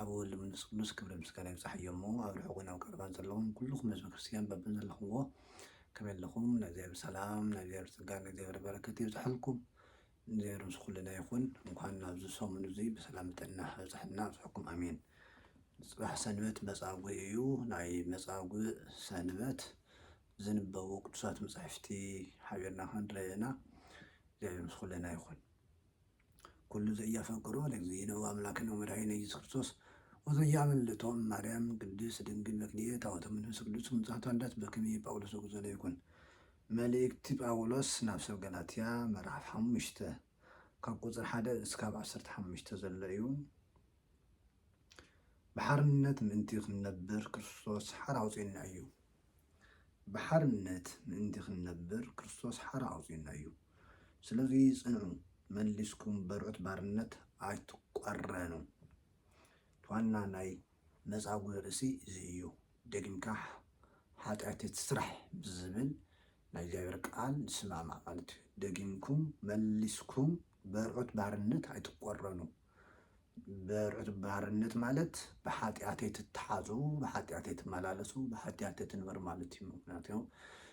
ኣብ ወልድ መንፈስ ቅዱስ ክብርን ምስጋናን ይብጻሕዮም እሞ ኣብ ርሑቅን ኣብ ቀረባን ዘለኹም ኩሉኹም ህዝበ ክርስትያን በብዘለኹምዎ ከመይ ኣለኹም ናይ እግዚኣብሔር ሰላም ናይ እግዚኣብሔር ጸጋ ናይ እግዚኣብሔር በረከት ይብጻሕልኩም ንእግዚኣብሔር ምስ ኩልና ይኹን እንኳን ናብዚ ሰሙን እዚ ብሰላም ብጥዕና ኣብጸሐና ኣብጸሐኩም ኣሜን ጽባሕ ሰንበት መጻጉዕ እዩ ናይ መጻጉዕ ሰንበት ዝንበቡ ቅዱሳት መጻሕፍቲ ሓቢርና ክንርኢ ኢና እግዚኣብሔር ምስ ኩልና ይኹን ኩሉ ዘያፈቅሮ ለእግዚእነ ወአምላክነ ወመድኃኒነ ኢየሱስ ክርስቶስ ወዘያምልጦ እማርያም ቅድስት ድንግል በክልኤ ታወተ መንፈስ ቅዱስ ምጽኣታ ልደት በክሜ ጳውሎስ ዘጉዘለ ይኩን። መልእክቲ ጳውሎስ ናብ ሰብ ገላትያ ምዕራፍ ሓሙሽተ ካብ ቁጽሪ ሓደ እስካብ ዓሰርተ ሓሙሽተ ዘሎ እዩ። ብሓርነት ምእንቲ ክንነብር ክርስቶስ ሓራ ኣውጽኡና እዩ። ብሓርነት ምእንቲ ክንነብር ክርስቶስ ሓራ ኣውጺኡና እዩ። ስለዚ ጽንዑ፣ መሊስኩም በርዑት ባርነት ኣይትቋረኑ። እቲ ዋና ናይ መጻጉዕ ርእሲ እዚ እዩ። ደጊምካ ሓጢኣት ኣይትስራሕ ብዝብል ናይ እግዚኣብሔር ቃል ዝስማማዕ ማለት እዩ። ደጊምኩም፣ መሊስኩም በርዑት ባርነት ኣይትቋረኑ። በርዑት ባርነት ማለት ብሓጢኣተይ ትተሓዙ ብሓጢኣተይ ትመላለሱ ብሓጢኣተይ ትንበሩ ማለት እዩ ምክንያቱ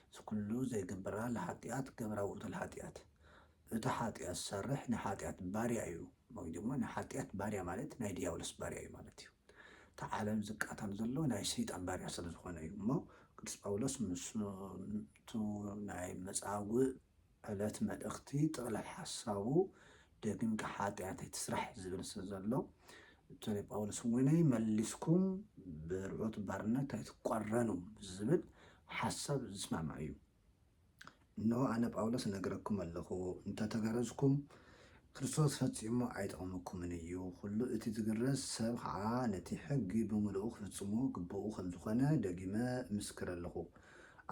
እዚ ኩሉ ዘይግብራ ለሓጢኣት ገብራ ውእቱ ለሓጢኣት እቲ ሓጢኣት ዝሰርሕ ናይ ሓጢኣት ባርያ እዩ ወይ ድማ ናይ ሓጢኣት ባርያ ማለት ናይ ድያብሎስ ባርያ እዩ ማለት እዩ እቲ ዓለም ዝቃተል ዘሎ ናይ ሰይጣን ባርያ ስለ ዝኾነ እዩ እሞ ቅዱስ ጳውሎስ ምስ ናይ መጻጉዕ ዕለት መልእኽቲ ጥቕላል ሓሳቡ ደጊምካ ሓጢኣት ኣይትስራሕ ዝብል ስለ ዘሎ እቶ ናይ ጳውሎስ ወይነይ መሊስኩም ብርዑት ባርነት ኣይትቋረኑ ዝብል ሓሳብ ዝስማማዕ እዩ። እንሆ ኣነ ጳውሎስ እነግረኩም ኣለኹ፣ እንተ ተገረዝኩም ክርስቶስ ፈጺሙ ኣይጠቕመኩምን እዩ፣ ኩሉ እቲ ዝግረዝ ሰብ ኸኣ ነቲ ሕጊ ብምሉኡ ክፍጽሞ ግቡኡ ከም ዝኾነ ደጊመ እምስክር ኣለኹ።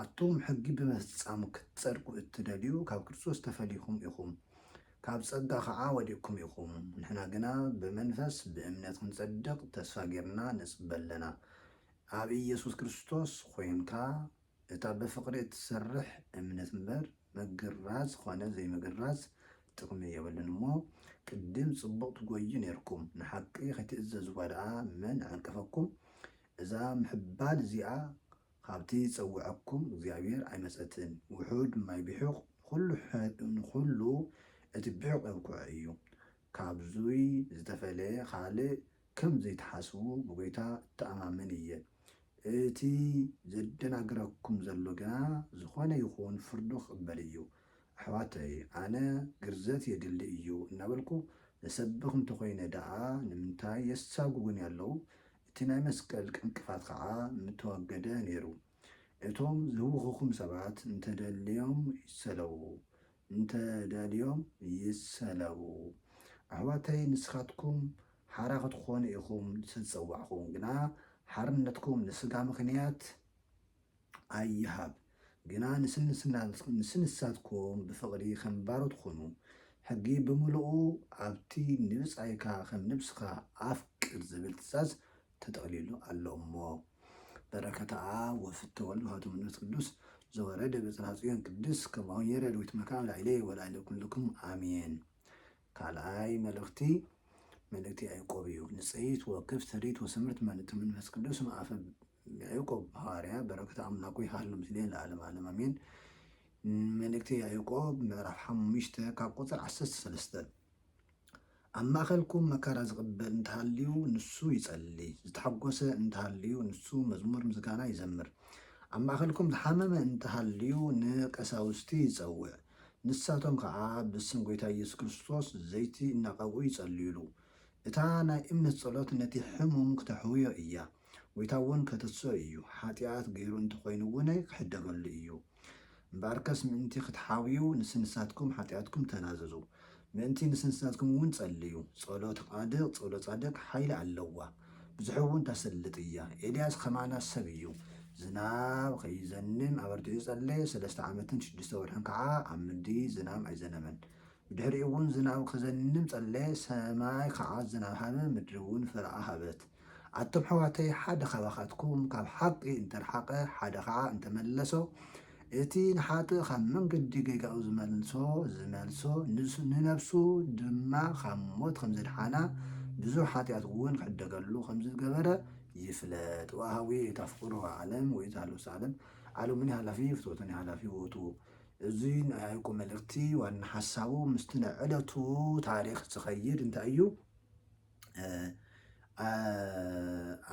ኣቱም ሕጊ ብምፍጻም ክትጸድቁ እትደልዩ ካብ ክርስቶስ ተፈልይኩም ኢኹም፣ ካብ ጸጋ ኸኣ ወዲቕኩም ኢኹም። ንሕና ግና ብመንፈስ ብእምነት ክንጸድቕ ተስፋ ጌርና ንጽበ ኣለና። ኣብ ኢየሱስ ክርስቶስ ኾይንካ እታ ብፍቕሪ እትሰርሕ እምነት እምበር ምግራዝ ኾነ ዘይምግራዝ ጥቕሚ የብሉን እሞ ቅድም ጽቡቕ ትጎዩ ኔርኩም ንሓቂ ከይትእዘዝዋ ደኣ መን ዓንቀፈኩም እዛ ምሕባል እዚኣ ኻብቲ ዝጸውዐኩም እግዚኣብሄር ኣይመጸትን፣ ውሑድ ማይ ቢሑቕ ንዅሉ እቲ ቢሑቕ የብክዖ እዩ። ካብዙይ ዝተፈለየ ኻልእ ከም ዘይትሓስቡ ብጐይታ እተኣማመን እየ። እቲ ዜደናግረኩም ዘሎ ግና ዝዀነ ይኹን ፍርዱ ኪቕበል እዩ። ኣሕዋተይ፣ ኣነ ግርዘት የድሊ እዩ እናበልኩ እሰብኽ እንተ ዀይነ ደኣ ንምንታይ የሳጕጉኒ ኣለዉ? እቲ ናይ መስቀል ዕንቅፋት ኸዓ ምተወገደ ነይሩ። እቶም ዝህውኹኹም ሰባት እንተደልዮም ይሰለዉ፣ እንተደልዮም ይሰለቡ። ኣሕዋተይ ንስኻትኩም ሓራ ክትኾኑ ኢኹም ዝተፀዋዕኹም፣ ግና ሓርነትኩም ንስጋ ምኽንያት፣ ኣይሃብ ግና ንስንሳትኩም ብፍቕሪ ኸም ባሮት ኹኑ፣ ሕጊ ብምሉኡ ኣብቲ ንብጻይካ ኸም ነብስኻ ኣፍቅር ዝብል ትእዛዝ ተጠቕሊሉ ኣሎ እሞ። በረከትኣ ወፍቲ ወልድ ውሃቱ መንፈስ ቅዱስ ዘወረደ ብጽርሐ ጽዮን ቅድስት ከማሁ የረድ ወይትመካዕ ላዕሌ ወላዕለ ኩልክሙ ኣሜን። ካልኣይ መልእኽቲ መልእክቲ ያዕቆብ እዩ። ንጽይት ወክፍ ትርኢት ወስምርት መልእክቲ መንፈስ ቅዱስ መኣፈ ያዕቆብ ሃዋርያ በረከት ኣምላኩ ይሃሉ ምስሌን ለዓለም ዓለም ኣሜን። መልእክቲ ያዕቆብ ምዕራፍ ሓሙሽተ ካብ ቁፅር ዓሰርተ ሰለስተ ኣብ ማእኸልኩም መከራ ዝቕበል እንተሃልዩ ንሱ ይጸሊ፣ ዝተሓጎሰ እንተሃልዩ ንሱ መዝሙር ምስጋና ይዘምር። ኣብ ማእኸልኩም ዝሓመመ እንተሃልዩ ንቀሳውስቲ ይጸውዕ፣ ንሳቶም ከኣ ብስም ጎይታ ኢየሱስ ክርስቶስ ዘይቲ እናቀብኡ ይጸልዩሉ። እታ ናይ እምነት ጸሎት ነቲ ሕሙም ክተሕውዮ ኢያ። ጎይታ እውን ከተስኦ ኢዩ። ሓጥያት ገይሩ እንተኮይኑ እውን ክሕደገሉ ኢዩ። እምበኣርከስ ምእንቲ ክትሓውዩ ንስንሳትኩም ሓጥያትኩም ተናዘዙ። ምእንቲ ንስንስናትኩም እውን ጸልዩ። ጸሎት ቓድቅ ጸሎት ጻድቅ ሓይሊ ኣለዋ ብዙሕ እውን ተስልጥ እያ ኤልያስ ኸማና ሰብ እዩ ዝናብ ኸይዘንም ኣበርቲዑ ጸለየ ሰለስተ ዓመትን ሽዱሽተ ወርሕን ከዓ ኣብ ምድሪ ዝናም ኣይዘነመን ብድሕሪኡ እውን ዝናብ ኸዘንም ጸለየ ሰማይ ከዓ ዝናብ ሃበ ምድሪ እውን ፍረኣ ሃበት ኣቱም ኣሕዋተይ ሓደ ካባኻትኩም ካብ ሓቒ እንተርሓቐ ሓደ ኸዓ እንተመለሶ እቲ ንሓጥእ ካብ መንገዲ ጌጋኡ ዝመልሶ ዝመልሶ ንነብሱ ድማ ካብ ሞት ከም ዘድሓና ብዙሕ ሓጢኣት እውን ክዕደገሉ ከም ዝገበረ ይፍለጥ ወሃዊ እታ ፍቕሩ ዓለም ወይ እታ ልኡስ ዓለም ዓለሙኒ ሓላፊ ፍትወቱኒ ሓላፊ ውእቱ እዚ ናይ ያዕቆብ መልእክቲ ዋና ሓሳቡ ምስቲ ናይ ዕለቱ ታሪክ ዝኸይድ እንታይ እዩ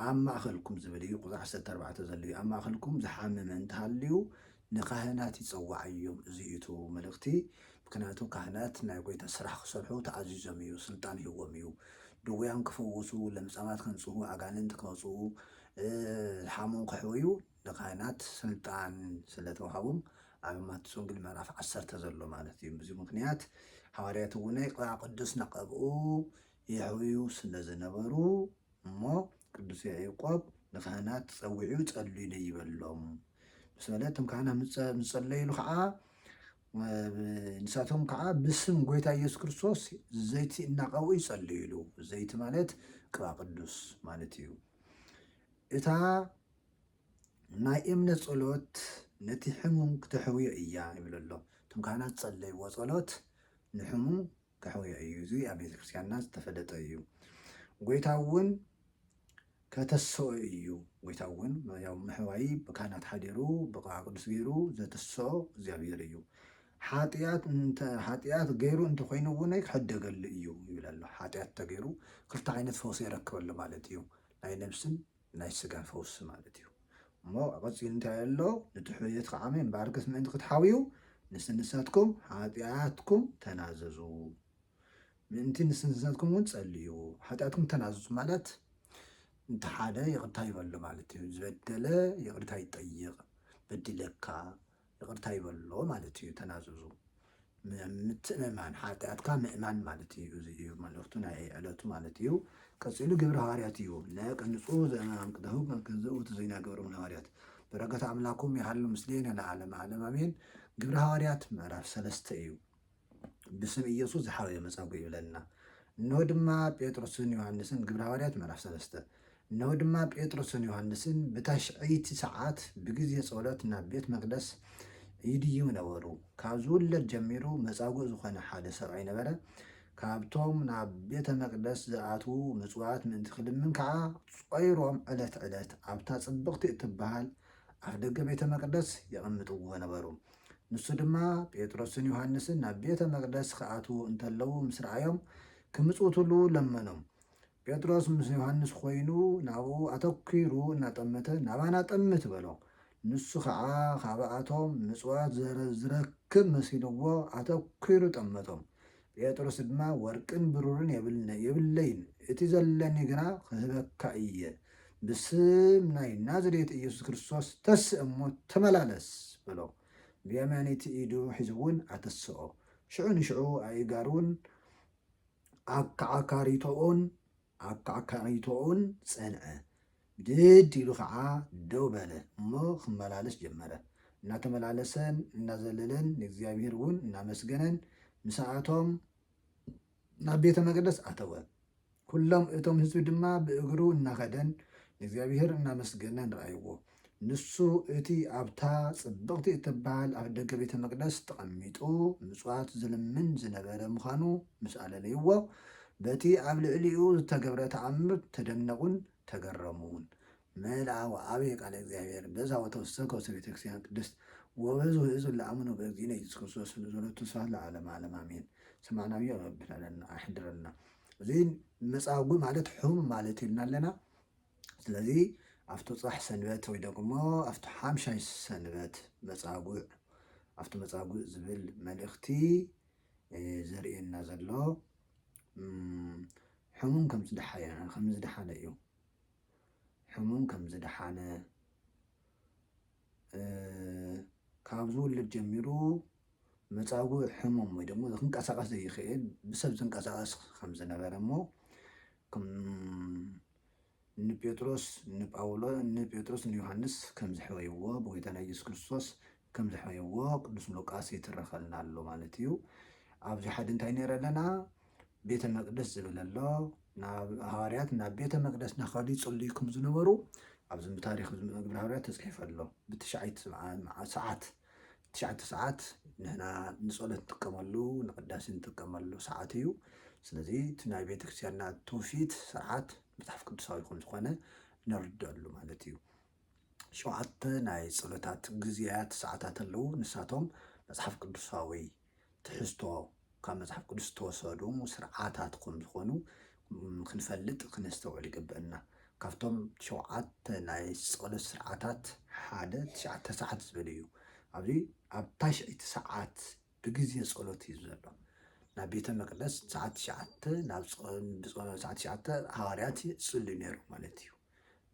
ኣብ ማእኸልኩም ዝብል እዩ ቁፅሪ ዓሰርተ ኣርባዕተ ዘሎ እዩ ኣብ ማእኸልኩም ዝሓመመ እንተሃልዩ ንካህናት ይፀዋዓዮም እዚ እዩ እቲ መልእኽቲ ምክንያቱ ካህናት ናይ ጎይታ ስራሕ ክሰርሑ ተኣዚዞም እዩ ስልጣን ይህዎም እዩ ድውያን ክፈውሱ ለምፃማት ከንፅሁ ኣጋንንቲ ከውፅኡ ሓሙን ከሕወዩ ንካህናት ስልጣን ስለ ተዋህቡም ኣብ ማትስ ወንግል ምዕራፍ ዓሰርተ ዘሎ ማለት እዩ ብዙ ምክንያት ሃዋርያት እውነ ቅባዕ ቅዱስ ነቐብኡ የሕውዩ ስለ ዝነበሩ እሞ ቅዱስ ያዕቆብ ንካህናት ጸዊዑ ጸልዩለይ ይበሎም ምስ በለ እቶም ካህናት ምጸለዩሉ ከዓ ንሳቶም ከዓ ብስም ጎይታ ኢየሱስ ክርስቶስ ዘይቲ እናቀብኡ ይጸልዩሉ። ዘይቲ ማለት ቅባ ቅዱስ ማለት እዩ። እታ ናይ እምነት ጸሎት ነቲ ሕሙም ክተሕውዮ እያ ይብል ኣሎ። እቶም ካህናት ዝጸለይዎ ጸሎት ንሕሙም ከሕውዮ እዩ። እዚ ኣብ ቤተ ክርስቲያንና ዝተፈለጠ እዩ። ጎይታ እውን ከተስኦ እዩ። ጎይታ እውን ያው ምሕዋይ ብካህናት ሓዲሩ ብቕዓ ቅዱስ ገይሩ ዘትስኦ እግዚኣብሔር እዩ። ሓጢኣት እንተ ሓጢኣት ገይሩ እንተኮይኑ እውን ክሕደገሉ እዩ ይብል ኣሎ። ሓጢኣት እንተገይሩ ክልተ ዓይነት ፈውሲ የረክበሉ ማለት እዩ። ናይ ነብስን ናይ ስጋ ፈውሲ ማለት እዩ። እሞ ቀጺሉ እንታይ ኣሎ ንድሕርየትካ ዓመይ ባርክስ ምእንቲ ክትሓውዩ ንስንሳትኩም ሓጢኣትኩም ተናዘዙ ምእንቲ ንስንሳትኩም እውን ጸልዩ ሓጢኣትኩም ተናዘዙ ማለት እንተ ሓደ ይቕርታ ይበሎ ማለት እዩ። ዝበደለ ይቕርታ ይጠይቕ በዲለካ ይቅርታ ይበሎ ማለት እዩ ተናዘዙ ምትእምማን ሓጢኣትካ ምእማን ማለት እዩ እዚ እዩ መልእኽቱ ናይ ዕለቱ ማለት እዩ ቀፂሉ ግብረ ሃዋርያት እዩ ለቀንፁ ዘናምቅተሁ ከንከዘኡ ትዘይና ገብሮም ለሃዋርያት በረከት ኣምላኩም ይሃሉ ምስሌነ ለዓለም ዓለም ኣሜን ግብረ ሃዋርያት ምዕራፍ ሰለስተ እዩ ብስም ኢየሱስ ዝሓወየ መጻጉዕ ይብለልና። እነሆ ድማ ጴጥሮስን ዮሃንስን ግብሪ ሃዋርያት ምዕራፍ ሰለስተ እነሆ ድማ ጴጥሮስን ዮሃንስን ብታሽዐይቲ ሰዓት ብግዜ ጸሎት ናብ ቤት መቅደስ ይድይቡ ነበሩ። ካብ ዝውለድ ጀሚሩ መጻጉዕ ዝኾነ ሓደ ሰብኣይ ነበረ። ካብቶም ናብ ቤተ መቅደስ ዝኣትዉ ምጽዋት ምእንቲ ክልምን ከዓ ጾይሮም ዕለት ዕለት ኣብታ ጽብቕቲ እትበሃል ኣፍ ደገ ቤተ መቅደስ የቐምጥዎ ነበሩ። ንሱ ድማ ጴጥሮስን ዮሃንስን ናብ ቤተ መቅደስ ክኣትዉ እንተለዉ ምስ ረኣዮም ክምጽውትሉ ለመኖም። ጴጥሮስ ምስ ዮሃንስ ኮይኑ ናብኡ ኣተኲሩ እናጠመተ ናባና ጠምት በሎ። ንሱ ከዓ ካብኣቶም ምጽዋት ዝረክብ መሲልዎ ኣተኲሩ ጠመቶም። ጴጥሮስ ድማ ወርቅን ብሩርን የብልነይ የብለይን እቲ ዘለኒ ግና ኽህበካ እየ ብስም ናይ ናዝሬት ኢየሱስ ክርስቶስ ተስእ እሞ ተመላለስ በሎ ብየማነይቲ ኢዱ ሒዙውን ኣተስኦ ሽዑ ንሽዑ ኣእጋሩን ኣከዓካሪቶኡን ኣካዕካዒቶኡን ጸንዐ። ብድድ ኢሉ ከኣ ደው በለ እሞ ክመላለስ ጀመረ። እናተመላለሰን እናዘለለን ንእግዚኣብሄር እውን እናመስገነን ምሳኣቶም ናብ ቤተ መቅደስ ኣተወ። ኩሎም እቶም ህዝቢ ድማ ብእግሩ እናኸደን ንእግዚኣብሄር እናመስገነን ረኣይዎ። ንሱ እቲ ኣብታ ጽብቕቲ እትበሃል ኣፍደገ ቤተ መቕደስ ተቐሚጡ ምጽዋት ዝልምን ዝነበረ ምዃኑ ምስ ኣለለይዎ፣ በቲ ኣብ ልዕሊኡ ዝተገብረ ተኣምር ተደነቑን ተገረሙን። መልኣወ ኣብየ ቃለ እግዚኣብሔር በዛ ወተወሰከ ውስተ ቤተ ክርስቲያን ቅድስት ወበዙ ህዝብ ለአምኑ በእግዚእነ ኢየሱስ ክርስቶስ ንዘሎቱ ስብሐት ለዓለመ ዓለም አሜን። ሰማዕናዮ ረቢ ኣሕድረልና። እዚ መጻጉዕ ማለት ሕሙም ማለት ኢልና ኣለና። ስለዚ ኣብቲ ፃሕ ሰንበት ወይ ደግሞ ኣብቲ ሓምሻይ ሰንበት መፃጉዕ ኣብቲ መፃጉዕ ዝብል መልእኽቲ ዘርእየና ዘሎ ሕሙም ከም ዝደሓየ ከም ዝደሓነ እዩ ሕሙም ከም ዝደሓነ ካብ ዝውልድ ጀሚሩ መፃጉዕ ሕሙም ወይ ደግሞ ክንቀሳቀስ ዘይኽእል ብሰብ ዝንቀሳቀስ ከም ዝነበረ እሞ ንጴጥሮስ ንጳውሎ ንጴጥሮስ ንዮሃንስ ከም ዘሕበይዎ ብጎይታና ኢየሱስ ክርስቶስ ከም ዘሕበይዎ ቅዱስ ሉቃስ ይትረኸልና ኣሎ ማለት እዩ። ኣብዚ ሓዲ እንታይ ነይረ ኣለና ቤተ መቅደስ ዝብል ኣሎ ናብ ሃዋርያት ናብ ቤተ መቅደስ ናኸዱ ይጽልዩ ከም ዝነበሩ ኣብዚ ታሪክ ግብረ ሃዋርያት ተጽሒፈ ኣሎ ብትሽዓይት ሰዓት ትሽዓተ ሰዓት ንሕና ንፀሎት ንጥቀመሉ ንቅዳሴ ንጥቀመሉ ሰዓት እዩ። ስለዚ እቲ ናይ ቤተክርስትያንና ትውፊት ስርዓት መፅሓፍ ቅዱሳዊ ከምዝኾነ ነርድኣሉ ማለት እዩ። ሸውዓተ ናይ ፀሎታት ግዝያት ሰዓታት ኣለዉ። ንሳቶም መፅሓፍ ቅዱሳዊ ትሕዝቶ ካብ መጽሓፍ ቅዱስ ዝተወሰዱ ስርዓታት ከም ዝኾኑ ክንፈልጥ ክነስተውዕል ይግብእና። ካብቶም ሸውዓተ ናይ ጸሎት ስርዓታት ሓደ ትሽዓተ ሰዓት ዝብል እዩ። ኣብዚ ኣብ ታሽዐይቲ ሰዓት ብግዜ ጸሎት እዩ ዘሎ። ናብ ቤተ መቅደስ ሰዓት ትሽዓተ ናብ ጸ- ብጸ- ሰዓት ትሽዓተ ሃዋርያት ይጽልዩ ነይሮም ማለት እዩ።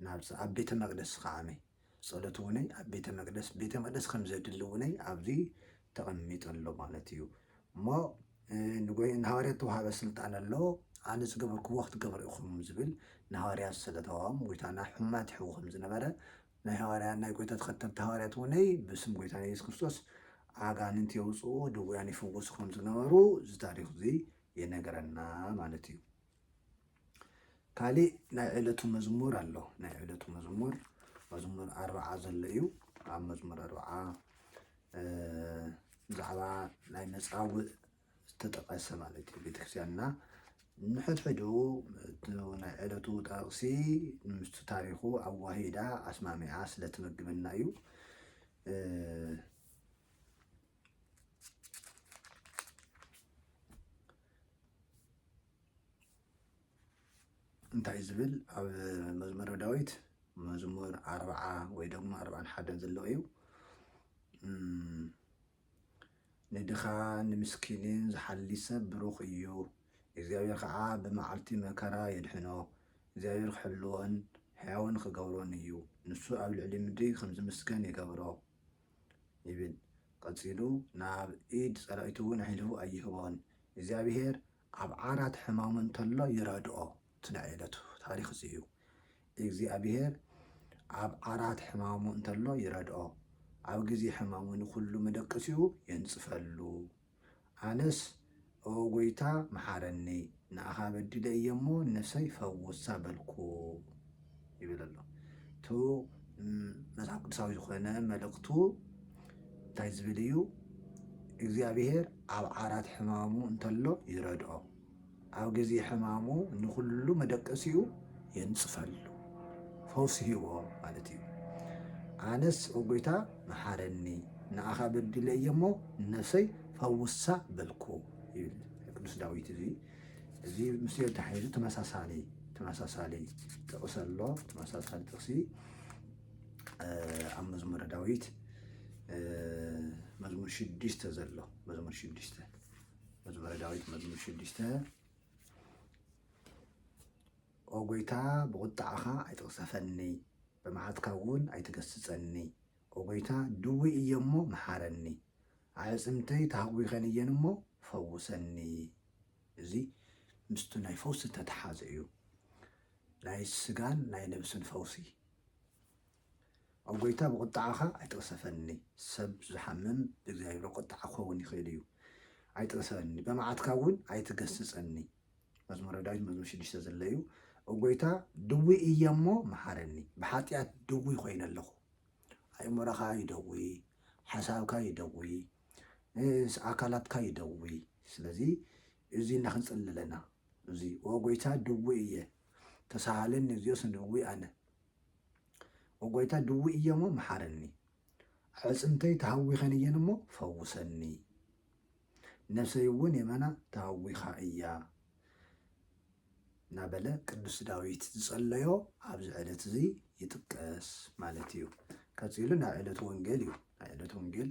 ናብዚ ኣብ ቤተ መቅደስ ከዓነይ ጸሎት እውነይ ኣብ ቤተ መቅደስ ቤተ መቅደስ ከም ዘድሊ እውነይ ኣብዚ ተቐሚጡ ኣሎ ማለት እዩ እሞ ንጎይ ንሃዋርያት ተዋሃበ ስልጣን ኣሎ ኣነ ዝገበርክዎ ክትገብሩ ኢኹም ዝብል ንሃዋርያት ስለተዋም ጎይታና ሕማት ይሕው ከም ዝነበረ ናይ ሃዋርያ ናይ ጎይታ ተኸተልቲ ሃዋርያት እውነይ ብስም ጎይታ ናይ የሱስ ክርስቶስ ኣጋንንት የውፅኡ ድውያን ይፍውሱ ከም ዝነበሩ እዚ ታሪክ እዚ የነገረና ማለት እዩ ካሊእ ናይ ዕለቱ መዝሙር ኣሎ ናይ ዕለቱ መዝሙር መዝሙር ኣርብዓ ዘሎ እዩ ኣብ መዝሙር ኣርብዓ ብዛዕባ ናይ መፃውእ ዝተጠቐሰ ማለት እዩ ቤተክርስትያንና ንሕድሕዱ ናይ ዕለቱ ጠቕሲ ምስቲ ታሪኹ ኣዋሂዳ ኣስማሚዓ ስለትመግበና እዩ እንታይ ዝብል ኣብ መዝሙረ ዳዊት መዝሙር ኣርብዓ ወይ ደግሞ ኣርብዓን ሓደን ዘሎ እዩ ንድኻ ንምስኪንን ዝሓሊ ሰብ ብሩኽ እዩ እግዚኣብሔር ከዓ ብመዓልቲ መከራ የድሕኖ እግዚኣብሔር ክሕልዎን ሕያውን ክገብሮን እዩ ንሱ ኣብ ልዕሊ ምድሪ ከም ዝምስገን ይገብሮ ይብል ቐጺሉ ናብ ኢድ ጸላኢቱውን ኣሕሊፉ ኣይህቦን እግዚኣብሄር ኣብ ዓራት ሕማሙ እንተሎ ይረድኦ ትናኤለቱ ታሪኽ እዚ እዩ እግዚኣብሄር ኣብ ዓራት ሕማሙ እንተሎ ይረድኦ ኣብ ግዜ ሕማሙ ንኹሉ መደቀሲኡ የንጽፈሉ ኣነስ ኦው ጎይታ መሓረኒ ንኣኻ በዲለ እየ እሞ ንነፍሰይ ፈውሳ በልኩ ይብል ኣሎ እቱ መፅሓፍ ቅዱሳዊ ዝኾነ መልእኽቱ እንታይ ዝብል እዩ እግዚኣብሄር ኣብ ዓራት ሕማሙ እንተሎ ይረድኦ ኣብ ግዜ ሕማሙ ንኹሉ መደቀሲኡ የንጽፈሉ ፈውሲ ሂቦ ማለት እዩ ኣነስ ኦ ጎይታ መሓረኒ ንኣኻ በዲለ እየ እሞ ነፍሰይ ፈውሳ በልኩ ይብል ቅዱስ ዳዊት እዚ እዚ ምስ ተሓይዙ ተመሳሳሊ ተመሳሳሊ ጥቕሲ ኣሎ ተመሳሳሊ ጥቕሲ ኣብ መዝሙረ ዳዊት መዝሙር ሽዱሽተ ዘሎ መዝሙር ሽዱሽተ መዝሙረ ዳዊት መዝሙር ሽዱሽተ ኦ ጎይታ ብቑጣዓኻ ኣይትቕሰፈኒ፣ ብመዓትካ እውን ኣይትገስጸኒ። ኦ ጎይታ ድውይ እየ እሞ መሓረኒ፣ ኣዕጽምተይ ተሃጒኸን እየን እሞ ፈውሰኒ። እዚ ምስቲ ናይ ፈውሲ እተተሓዘ እዩ፣ ናይ ስጋን ናይ ነብስን ፈውሲ። ኦ ጎይታ ብቁጥዓኻ ኣይትቕሰፈኒ ሰብ ዝሓምም ብእግዚኣብሔር ቁጥዓ ክኸውን ይኽእል እዩ ኣይትቕሰፈኒ በመዓትካ እውን ኣይትገስጸኒ መዝሙረ ዳዊት መዝሙር ሽዱሽተ ዘሎ እዩ ኦ ጎይታ ድዊ እየ እሞ መሓረኒ ብሓጢኣት ድዊ ኮይነ ኣለኹ ኣእምሮኻ ይደዊ ሓሳብካ ይደዊ ኣካላትካ ይደዊ ስለዚ እዚ እና ክንጽሊ ኣለና እዚ ኦ ጎይታ ድዊ እየ ተሳሃለኒ እዚኦስ ንእዊ ኣነ ኦ ጐይታ ድውይ እየ እሞ መሓረኒ ኣዕጽምተይ ተሃዊኸን እየን እሞ ፈውሰኒ ነፍሰይ እውን የመና ተሃዊኻ እያ እናበለ ቅዱስ ዳዊት ዝጸለዮ ኣብዚ ዕለት እዚ ይጥቀስ ማለት እዩ ቀጺሉ ናይ ዕለት ወንጌል እዩ ናይ ዕለት ወንጌል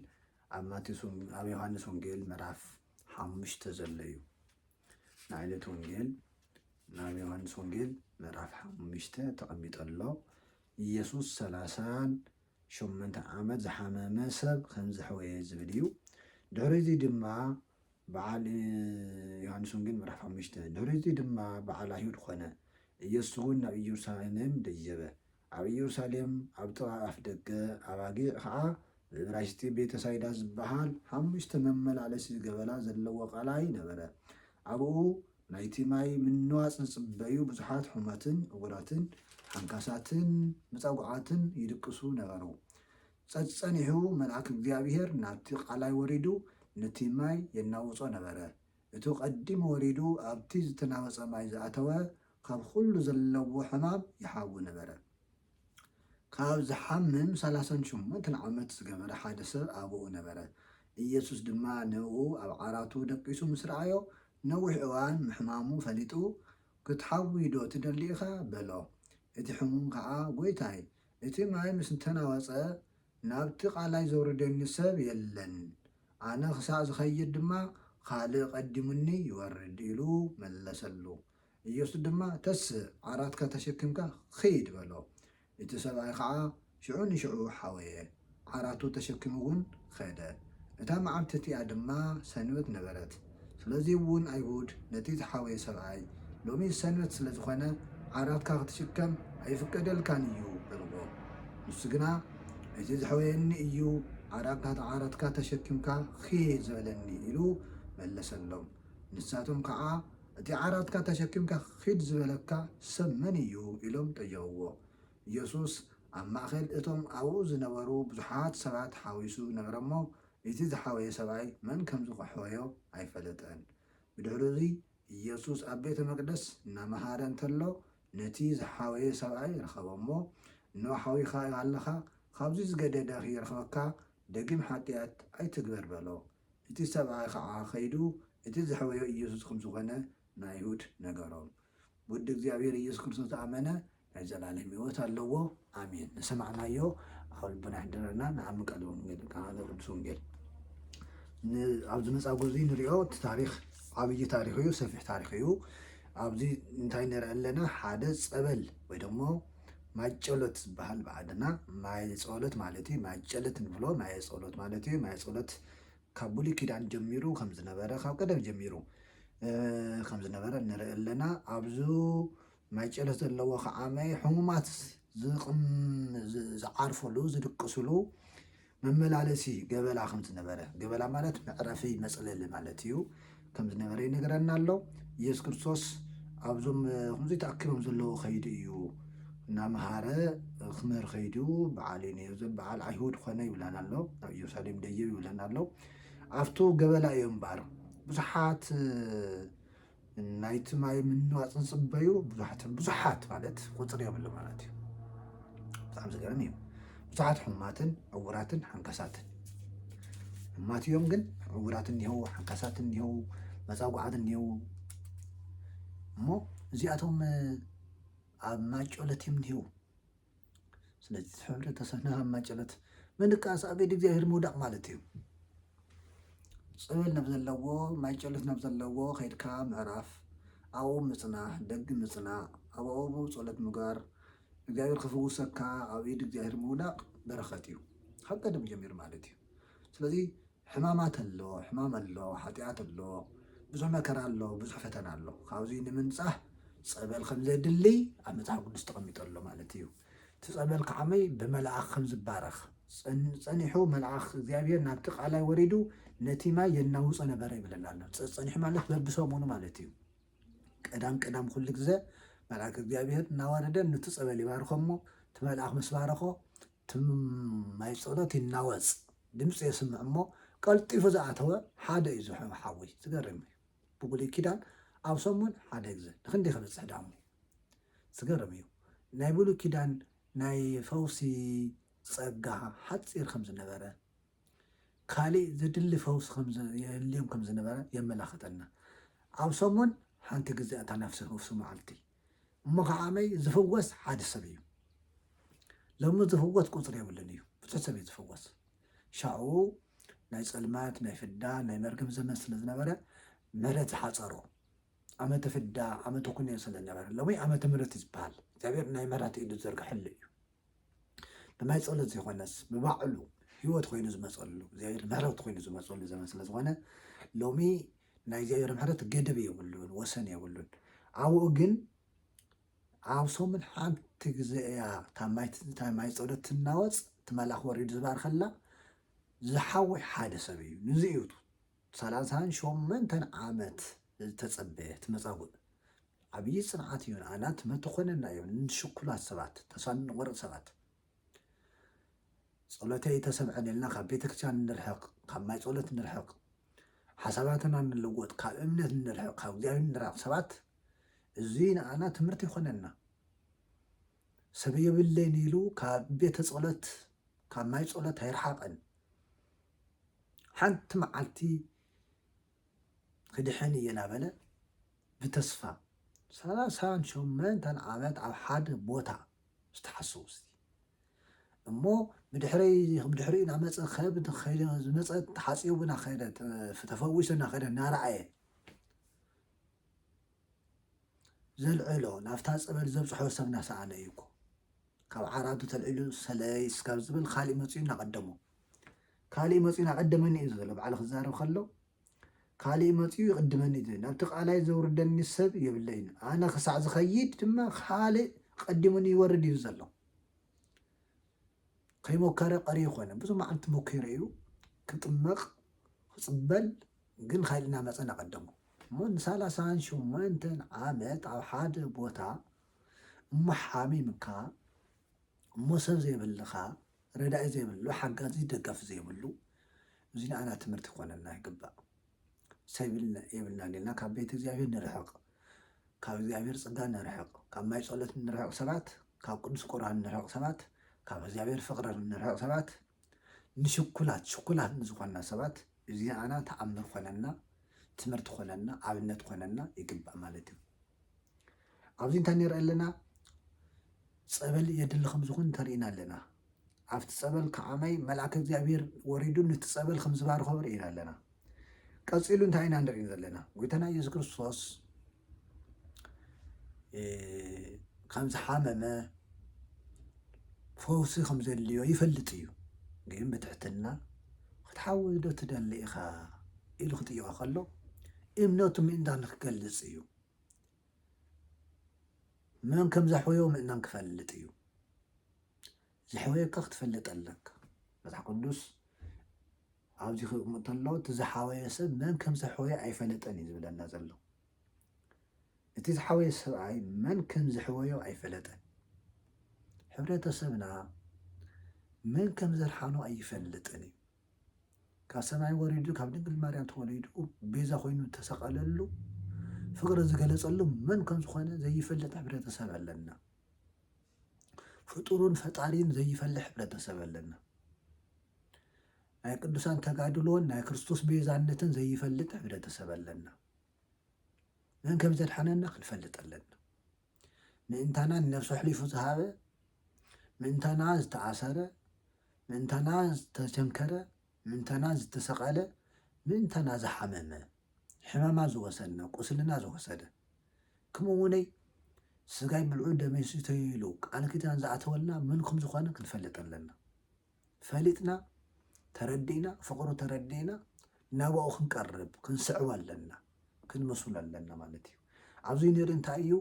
ኣብ ማቴዎስ ኣብ ዮሃንስ ወንጌል ምዕራፍ ሓሙሽተ ዘሎ እዩ ናይዕለት ወንጌል ናብ ዮሃንስ ወንጌል ምዕራፍ ሓሙሽተ ተቐሚጡ ኣሎ። ኢየሱስ ሰላሳን ሸሞንተ ዓመት ዝሓመመ ሰብ ከም ዘሕወየ ዝብል እዩ። ድሕሪዚ ድማ በዓል ዮሃንስ ወንጌል ምዕራፍ ሓሙሽተ ድሕሪዚ ድማ በዓል ኣይሁድ ኮነ። ኢየሱስ እውን ናብ ኢየሩሳሌም ደየበ። ኣብ ኢየሩሳሌም ኣብ ጥቓ ኣፍ ደገ ኣባጊዕ ኸኣ ብእብራይስጢ ቤተ ሳይዳ ዝበሃል ሓሙሽተ መመላለሲ ገበላ ዘለዎ ቐላይ ነበረ። ኣብኡ ናይቲ ማይ ምንዋጽ ዝጽበዩ ብዙሓት ሑመትን ዕዉራትን ሓንካሳትን መጻጉዓትን ይድቅሱ ነበሩ። ጸጸኒሑ መልኣክ እግዚኣብሄር ናብቲ ቐላይ ወሪዱ ነቲ ማይ የናውጾ ነበረ። እቱ ቐዲሙ ወሪዱ ኣብቲ ዝተናወጸ ማይ ዝኣተወ ካብ ኹሉ ዘለዎ ሕማም ይሓዊ ነበረ። ካብ ዝሓምም ሰላሳን ሸሞንተን ዓመት ዝገበረ ሓደ ሰብ ኣባኡ ነበረ። ኢየሱስ ድማ ንእኡ ኣብ ዓራቱ ደቂሱ ምስ ረኣዮ፣ ነዊሕ እዋን ምሕማሙ ፈሊጡ፣ ክትሓዊዶ ትደሊ ኢኻ? በሎ። እቲ ሕሙም ከኣ፣ ጐይታይ፣ እቲ ማይ ምስ ተናወጸ፣ ናብቲ ቓላይ ዘውርደኒ ሰብ የለን፣ ኣነ ኽሳዕ ዝኸይድ ድማ ኻልእ ቐዲሙኒ ይወርድ ኢሉ መለሰሉ። ኢየሱስ ድማ ተስእ ዓራትካ ተሸኪምካ ኺድ በሎ። እቲ ሰብኣይ ኸዓ ሽዑ ንሽዑ ሓወየ፣ ዓራቱ ተሸኪሙውን ኸደ። እታ መዓልቲ እቲኣ ድማ ሰንበት ነበረት። ስለዚውን ኣይሁድ ነቲ ዝሓወየ ሰብኣይ ሎሚ ሰንበት ስለ ዝኾነ ዓራትካ ኽትሽከም ኣይፍቀደልካን እዩ በልዎ። ንሱ ግና እቲ ዝሐወየኒ እዩ ዓራትካ ዓራትካ ተሸኪምካ ኺድ ዝበለኒ ኢሉ መለሰሎም። ንሳቶም ከዓ። እቲ ዓራትካ ተሸኪምካ ኺድ ዝበለካ ሰብ መን እዩ? ኢሎም ጠየቕዎ። የሱስ ኣብ ማእከል እቶም ኣብኡ ዝነበሩ ብዙሓት ሰባት ሓዊሱ ነበረ እሞ፣ እቲ ዝሓወየ ሰብኣይ መን ከም ዝኸሕወዮ ኣይፈለጠን። ብድሕርኡዚ፣ የሱስ ኣብ ቤተ መቕደስ እናመሃረ እንተሎ፣ ነቲ ዝሓወየ ሰብኣይ ረኸቦ እሞ፣ እንሆ ሓዊኻ ኣለካ፣ ኻብዚ ዝገደደ ኺረኽበካ፣ ደጊም ሓጢኣት ኣይትግበር በሎ። እቲ ሰብኣይ ኸዓ ኸይዱ እቲ ዘሕወዮ ኢየሱስ ኸም ዝኾነ ንኣይሁድ ነገሮም። ብወዲ እግዚኣብሔር ኢየሱስ ክርስቶስ ዝኣመነ ናይ ዘለዓለም ሕይወት ኣለዎ። ኣሜን። ንሰማዕናዮ ኣብ ልቦና የሕድረልና። ንዓሚ ቃለ ወንጌል ቃለ ቅዱስ ወንጌል ን ኣብዚ መጻጉ እዚ ንሪኦ እቲ ታሪኽ ዓብዪ ታሪኽ እዩ፣ ሰፊሕ ታሪኽ እዩ። ኣብዚ እንታይ ንርኢ ኣለና ሓደ ጸበል ወይ ደሞ ማይጨሎት ዝበሃል ብዓድና ማየጸሎት ማለት እዩ ማይጨሎት ንብሎ ማየጸሎት ማለት እዩ ማየጸሎት ካብ ብሉይ ኪዳን ጀሚሩ ከም ዝነበረ ካብ ቀደም ጀሚሩ ከም ዝነበረ ንርኢ ኣለና ኣብዙ ማይጨሎት ዘለዎ ከዓመ ሕሙማት ዝዓርፈሉ ዝድቅስሉ መመላለሲ ገበላ ከም ዝነበረ፣ ገበላ ማለት መዕረፊ መጽለሊ ማለት እዩ፣ ከም ዝነበረ ይነግረና ኣሎ። ኢየሱስ ክርስቶስ ኣብዞም ከምዚ ተኣኪቦም ዘለዉ ከይዱ እዩ እናመሃረ ክምህር ከይዱ በዓል እዩ ነይሩ በዓል ኣይሁድ ኮነ ይብለና ኣሎ ኣብ ኢየሩሳሌም ደየብ ይብለና ኣሎ ኣብቱ ገበላ እዮም እምበኣር ብዙሓት ናይቲ ማይ ምንዋፅ ዝፅበዩ ብዙሓትን ብዙሓት ማለት ቁፅሪ የብሉ ማለት እዩ ብጣዕሚ ዝገርም እዩ ብዙሓት ሕማትን ዕውራትን ሓንካሳትን ሕማት እዮም ግን ዕውራት እኒሀው ሓንካሳት እኒሀው መፃጓዓት እኒሀው እሞ እዚኣቶም ኣብ ማጮለት እዮም እኒሀው ስለዚ ሕብረተሰብና ኣብ ማጨሎት ምንቃስ ኣብ ኢድ እግዚኣብሔር ምውዳቕ ማለት እዩ። ጸበል ናብ ዘለዎ ማጨሎት ናብ ዘለዎ ከይድካ ምዕራፍ ኣብኡ ምጽናሕ ደግ ምጽናዕ ኣብ ኣብኡ ጸሎት ምግባር እግዚኣብሔር ክፍውሰካ ኣብ ኢድ እግዚኣብሔር ምውዳቕ በረኸት እዩ። ካብ ቀደም ጀሚሩ ማለት እዩ። ስለዚ ሕማማት ኣሎ፣ ሕማም ኣሎ፣ ሓጢኣት ኣሎ፣ ብዙሕ መከራ ኣሎ፣ ብዙሕ ፈተና ኣሎ። ካብዙይ ንምንጻህ ጸበል ከም ዘድሊ ኣብ መጽሓፍ ቅዱስ ተቐሚጡ ኣሎ ማለት እዩ። እቲ ጸበል ከዓመይ ብመልኣኽ ከም ዝባረኽ ጸኒሑ መልኣኽ እግዚኣብሔር ናብቲ ቃላይ ወሪዱ ነቲ ማይ የናውጾ ነበረ ይብለና ኣሎ። ጸኒሑ ማለት በብሰሙኑ ማለት እዩ። ቀዳም ቀዳም ኩሉ ግዘ መልኣክ እግዚኣብሔር እናወረደ ንቲ ጸበል ይባርኸ እሞ እቲ መልኣኽ ምስ ባረኾ ትም ማይ ጸሎት ይናወጽ ድምጺ የስምዕ እሞ ቀልጢፉ ዝኣተወ ሓደ እዩ ዝሑ ሓዊ ዝገርም እዩ ብብሉይ ኪዳን ኣብ ሰሙን ሓደ ግዘ ንክንደይ ክበጽሕ ዳሞ ዝገርም እዩ ናይ ብሉይ ኪዳን ናይ ፈውሲ ጸጋ ሓጺር ከም ዝነበረ ካሊእ ዘድሊ ፈውሲ ከም ዝ- የድልዮም ከም ዝነበረ የመላኽተና ኣብ ሰሙን ሓንቲ ግዜ እታ ነፍሲ ፈውሲ መዓልቲ እሞ ከዓ ኣመይ ዝፍወስ ሓደ ሰብ እዩ ሎሚ ዝፍወስ ቁፅሪ የብሉን እዩ ብዙሕ ሰብ እዩ ዝፍወስ ሻኡ ናይ ፅልመት ናይ ፍዳ ናይ መርገም ዘመን ስለ ዝነበረ ምሕረት ዝሓፀሮ ዓመተ ፍዳ ዓመተ ኩነ ስለ ዝነበረ ሎሚ ዓመተ ምሕረት እዩ ዝበሃል እግዚኣብሔር ናይ ምሕረት ኢዱ ዝዘርግሐሉ እዩ ብናይ ጸሎት ዘይኮነስ ብባዕሉ ህይወት ኮይኑ ዝመፀሉ እግዚኣብሔር ምሕረት ኮይኑ ዝመፀሉ ዘመን ስለ ዝኾነ ሎሚ ናይ እግዚኣብሔር ምሕረት ገደብ የብሉን ወሰን የብሉን ኣብኡ ግን ኣብ ሰሙን ሓንቲ ግዜ እያ እታ ማይ ፀሎት ትናወፅ እቲ መልኣኽ ወሪዱ ዝባርከላ ዝሓወይ ሓደ ሰብ እዩ ንዚ እዩ ሰላሳን ሾመንተን ዓመት ዝተጸበየት መጻጉእ ዓብዪ ጽንዓት እዩ ንኣና ትመትኾነና እዩ ንሽኩላት ሰባት ተስፋ ንቆርጽ ሰባት ጸሎተይ ተሰምዐን ኢልና ካብ ቤተክርስትያን ንርሕቅ ካብ ማይ ጸሎት ንርሕቅ ሓሳባትና ንልወጥ ካብ እምነት ንርሕቅ ካብ እግዚኣብሔር ንራቅ ሰባት እዚ ንኣና ትምህርቲ ይኾነና ሰብ የብለይን ኢሉ ካብ ቤተ ጸሎት ካብ ማይ ጸሎት ኣይርሓቅን ሓንቲ መዓልቲ ክድሕን እየ እናበለ ብተስፋ ሰላሳን ሸሞንተን ዓመት ኣብ ሓደ ቦታ ዝተሓሰቡ ስቲ እሞ ብድሕሪ እናመፀ ከብ ከይደ ዝመፀ ተሓፂቡ እናኸደ ተፈዊሱ እናኸደ እናረኣየ ዘልዕሎ ናብታ ፀበል ዘብፅሖ ሰብ እናሰኣነ እዩ እኮ ካብ ዓራቱ ተልዒሉ ሰለይ ስካብ ዝብል ካሊእ መፅኡ እናቐደሞ ካሊእ መፂኡ ናቀደመኒ እዩ ዘሎ ባዕሉ ክዛረብ ከሎ ካሊእ መፂኡ ይቅድመኒ እዩ ናብቲ ቃላይ ዘውርደኒ ሰብ የብለይን ኣነ ክሳዕ ዝከይድ ድማ ካሊእ ቀዲሙኒ ይወርድ እዩ ዘሎ ከይሞከረ ቀሪ ይኮነ ብዙ መዓልቲ ሞኪረ እዩ ክጥመቅ ክፅበል ግን ካሊእ ናመፀ ናቀደሙ እሞ ንሳላሳን ሸሞንተን ዓመት ኣብ ሓደ ቦታ እሞ ሓሚምካ ሞሶብ ዘይብልኻ ረዳኢ ዘይብሉ ሓጋዚ ደጋፊ ዘይብሉ እዚ ንዓና ትምህርቲ ክኾነና ይግባእ ሰብ የብልናን ኢልና ካብ ቤት እግዚኣብሔር ንርሕቅ ካብ እግዚኣብሔር ጽጋ ንርሕቅ ካብ ማይ ጸሎት ንርሕቅ ሰባት ካብ ቅዱስ ቁርባን ንርሕቅ ሰባት ካብ እግዚኣብሔር ፍቅሪ ንርሕቅ ሰባት ንሽኩላት ሽኩላት ንዝኾንና ሰባት እዚ ንዓና ተኣምር ኮነና ትምህርቲ ኮነና ኣብነት ኮነና ይግባእ ማለት እዩ ኣብዚ እንታይ ንርኢ ኣለና ጸበል የድሊ ከም ዝኾን እንተርኢና ኣለና ኣብቲ ጸበል ከዓማይ መልኣከ እግዚኣብሔር ወሪዱ ነቲ ጸበል ከም ዝባርኸ ርኢና ኣለና ቀፂሉ እንታይ ኢና ንርኢ ዘለና ጎይታና ኢየሱስ ክርስቶስ ከም ዝሓመመ ፈውሲ ከም ዘድልዮ ይፈልጥ እዩ። ግን ብትሕትና ክትሓዊ ዶ ትደሊ ኢኻ ኢሉ ክጥይቖ ከሎ እምነቱ ምእንታን ንክገልፅ እዩ። መን ከም ዘሕወዮ ምእንታን ክፈልጥ እዩ። ዝሕወየካ ክትፈልጥ ኣለካ መጽሓፍ ቅዱስ ኣብዚ ክቕምጥ ተሎ እቲ ዝሓወየ ሰብ መን ከም ዝሕወየ ኣይፈለጠን እዩ ዝብለና ዘሎ እቲ ዝሓወየ ሰብኣይ መን ከም ዝሕወዮ ኣይፈለጠን ሕብረተሰብና መን ከም ዘርሓኖ ኣይፈልጥን እዩ ካብ ሰማይ ወሪዱ ካብ ድንግል ማርያም ተወሊዱ ቤዛ ኮይኑ ተሰቐለሉ ፍቕሪ ዝገለጸሉ መን ከም ዝኾነ ዘይፈልጥ ሕብረተሰብ ኣለና። ፍጡሩን ፈጣሪን ዘይፈል ሕብረተሰብ ኣለና። ናይ ቅዱሳን ተጋድሎን ናይ ክርስቶስ ቤዛነትን ዘይፈልጥ ሕብረተሰብ ኣለና። መን ከም ዘድሓነና ክንፈልጥ ኣለና። ምእንታና ንነብሱ ኣሕሊፉ ዝሃበ፣ ምእንታና ዝተኣሰረ፣ ምእንታና ዝተቸንከረ፣ ምእንታና ዝተሰቐለ፣ ምእንታና ዝሓመመ ሕመማ ዝወሰነ ቁስልና ዝወሰደ ክምኡ ውነይ ስጋይ ብልዑ ደመይ ስተዩ ኢሉ ቃል ኪዳን ዝኣተወልና መን ከም ዝኾነ ክንፈልጥ ኣለና ፈሊጥና ተረዲእና ፍቅሩ ተረዲእና ናባኡ ክንቀርብ ክንስዕቦ ኣለና ክንመስሎ ኣለና ማለት እዩ ኣብዚ ነሪ እንታይ እዩ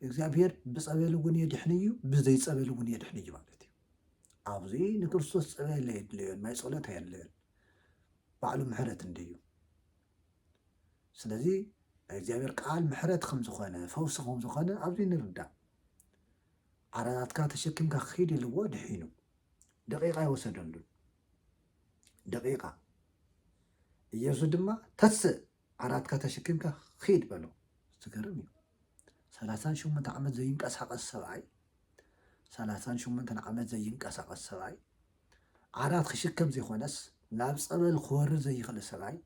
እግዚኣብሔር ብጸበል እውን የድሕን እዩ ብዘይ ጸበል እውን የድሕን እዩ ማለት እዩ ኣብዚ ንክርስቶስ ጸበል የድልዮን ናይ ጸሎት ኣየድልዮን ባዕሉ ምሕረት እንድዩ። ስለዚ ናይ እግዚኣብሔር ቃል ምሕረት ከም ዝኾነ ፈውሲ ከም ዝኾነ ኣብዚ ንርዳእ። ዓራታትካ ተሸኪምካ ክኺድ ኢልዎ ድሒኑ። ደቂቃ ኣይወሰደሉን። ደቂቃ ኢየሱስ ድማ ተስእ ዓራትካ ተሸኪምካ ኺድ በሎ። ዝገርም እዩ። ሰላሳን ሸሞንተ ዓመት ዘይንቀሳቀስ ሰብኣይ ሰላሳን ሸሞንተን ዓመት ዘይንቀሳቀስ ሰብኣይ ዓራት ክሽከም ዘይኮነስ ናብ ጸበል ክወርድ ዘይኽእል ሰብኣይ